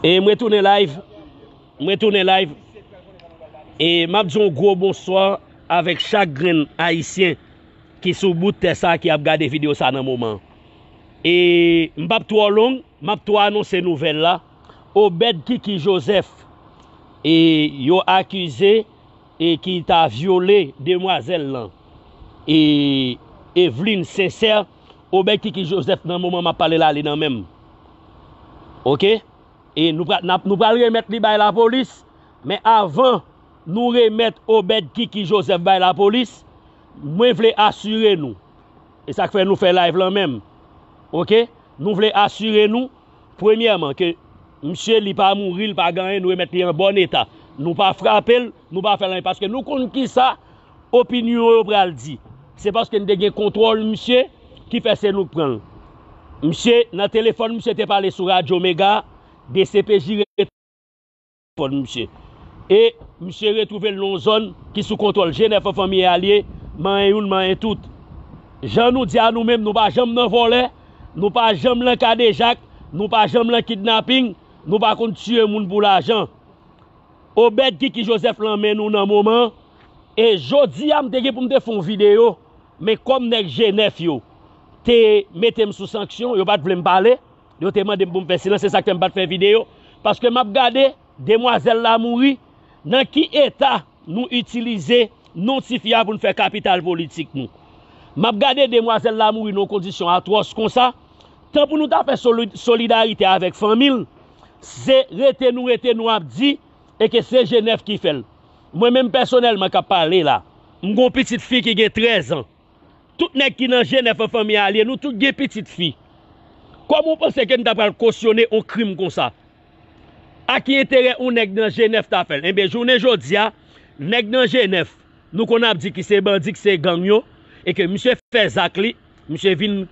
E mwen tounen live Mwen tounen live E map di yon gwo bonswa Avèk chak grenn ayisyen Ki sou bout tè sa ki ap gade video sa nan moman E m pap twò long Map twò anonse nouvèl la Obed kiki joseph E yo akize E ki ta vyole demwazèl lan E Evelyne sincère Obed kiki Joseph nan moman map pale la li nan menm ok e nou pral nap nou pral remèt li bay lapolis men avan nou remèt Obed kiki Joseph bay lapolis mwen vle asire nou e sak fè nou fè live lan menm ok nou vle asire nou premyèman ke misye li pa mouri li pa gen anyen nou remèt li an bòn eta nou pa frapel nou pa fèl anyen paske nou konn kisa Opinyon yo pral di. Se paske n te gen kontwòl misye ki fè se nou k pran l. Misye nan telefòn misye te pale sou radyo mega, dcpj rete telefòn misye. E misye retwouve l nan yon zòn ki sou kontwòl Jenè Fanfanmi e alye, manyen youn manyen tout. Jan nou di a nou menm nou pa janm nan vòlè, nou pa janm lan kadejak, nou pa janm lan kidnaping, nou pa konn tiye moun pou lajan. Obed Kiki Joseph lan men nou nan moman e jodia m te gen pou m te fè yon video men kòm nèg G9 yo te mete m sou sanksyon yo pat vle m pale yo te mande m pou m fè silans se sak fè m pat fè video paske map gade demwazèl la mouri nan ki eta nou itilize non tifi a pou n fè kapital politik nou map gade demwazèl la mouri nan yon kondisyon atwòs konsa tan pou nou ta fè solidarite avèk fanmi l Se rete nou rete nou ap di e ke se Jenèf ki fè l. Mwen menm pèsonèlman k ap pale la, m gen yon pitit fi ki gen trèz an. Tout nèg ki nan Jenèf an fanmi a lye, nou tout gen pitit fi. Kòman ou panse ke n ta pral kosyone yon krim konsa? A ki enterè yon nèg nan Jenèf ta fè l? Enben, jounen jodi a, nèg nan Jenèf, nou konn ap di ki se bandi, ki se gang yo, e ke misye fè zak li, Misye vin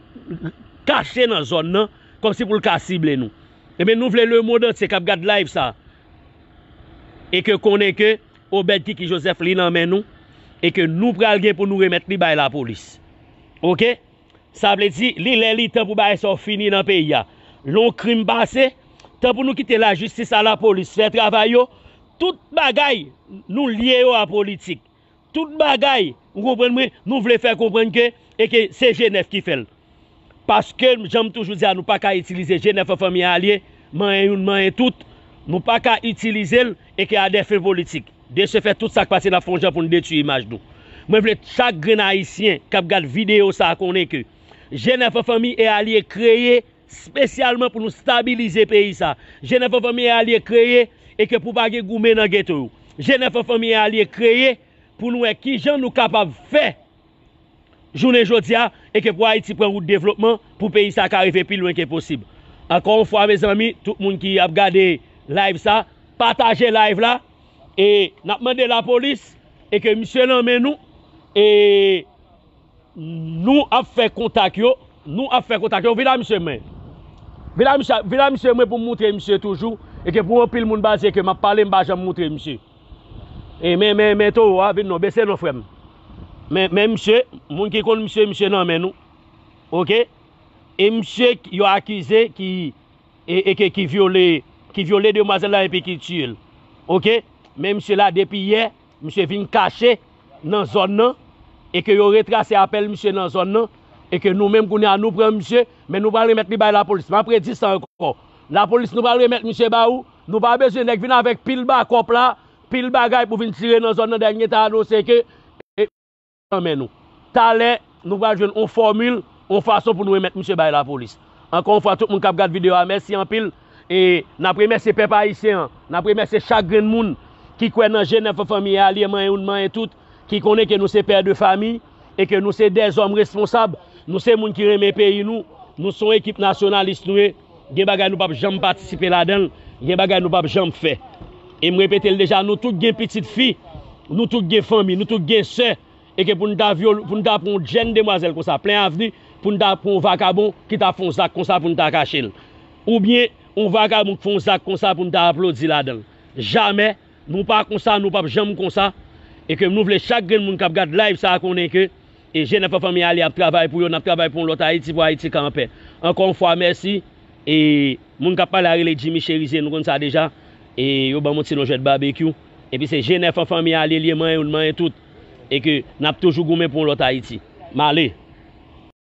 kache nan zòn nan kòmsi pou l ka sible nou. Ebyen nou vle lemond antye k ap gad live sa e ke konnen ke Obed Kiki Joseph li nan men nou e ke nou pral gen pou nou remèt li bay lapolis. Ok? Sa vle di li lè li tan pou bagay sa yo fini nan peyi a. Lè yon krim pase, tan pou nou kite lajistis a lapolis fè travay yo, tout bagay nou lye yo a politik. Tout bagay, ou konprann mwen, nou vle fè konprann ke e ke se G9 ki fè l. Paske jan m toujou di a nou pa ka itilize G9 an fanmi alye, manyen youn manyen tout, nou pa ka itilize l e ke a dè fen politik. De se fèt tout sa k pase n ap fè yon jan pou n detui imaj nou. Mwen vle chak grenn ayisyen k ap gad videyo sa a konnen ke G9 an fanmi e alye kreye. spesyalman pou nou stabilize peyi sa Jenèf an Fanmi e Alye kreye e ke pou pa gen goumen nan geto yo Jenèf an Fanmi e Alye kreye pou nou wè ki jan nou kapab fè jounen jodi a e ke pou Ayiti pran wout devlopman pou peyi sa ka rive pi lwen ke posib ankò yon fwa mezanmi tout moun ki ap gade live sa pataje live la e n ap mande lapolis e ke misye nan men nou e. Nou ap fè kontak yo. Nou ap fè kontak yo. Vin a misye mwen. Vin a misye, vin a misye mwen pou m moutre misye toujou. E ke pou anpil moun baze ke m ap pale m pa janm moutre misye. E men, men, men towo a, vin non, bese non frè m. Men, men misye, moun ki konn misye, misye nan men nou. Ok? E misye yo akize ki, e, e ke ki vyole, ki vyole demwazèl la epi ki tiye l. Ok? Men misye la depi yè, Misye vin kache nan zòn nan e ke yo retrase apèl misye nan zòn nan e ke nou menm kounye a nou pran misye men nou pral remèt li bay lapolis map redi sa ankò lapolis nou pral remèt misye ba ou nou pa bezwen nèg vin avèk pil bakòp la pil bagay pou vin tire nan zòn nan dènye tan anonse ke nan men nou. Talè, nou pral jwenn on fòmil, on fason pou nou remèt misye bay lapolis. Ankò on fwa tout moun k ap gad videyo a mèsi anpil e n ap remèsye pèp ayisyen an, n ap remèsye chak grenn moun ki kwè nan je nèf fanmi e alye manyen youn manyen tout, ki konnen ke nou se pè de fami e ke nou se dèzòm responsab, nou se moun ki renmen peyi nou, nou se on ekip nasyonalis nou ye. Gen bagay nou pap janm patisipe ladan l, gen bagay nou pap janm fè. E m repete l deja, nou tout gen pitit fi, nou tout gen fanmi, nou tout gen sè, e ke pou n ta vyole, pou n ta pran yon jenn demwazèl konsa plen avni, pou n ta pran yon vakabon ki ta fè yon zak konsa pou n ta kache l. Oubyen yon vakabon ki fè yon zak konsa pou n ta aplodi ladan l. Jamè, nou pa konsa, nou pap janm konsa. E ke nou vle chak grenn moun k ap gad live sa konnen ke. E Jenèf ak fanmi Alia ap travay pou yo, nap travay pou yon lòt Ayiti, pou Ayiti ka anpè. Ankò yon fwa mèsi e moun kap pale a rele Jimmy Cherizier nou konn sa deja e yo banm yon ti non jwèt Barbecue epi se Jenèf an fanmi Alie liye manyen youn manyen tout e ke nap toujou goumen pou yon lòt Ayiti. Male.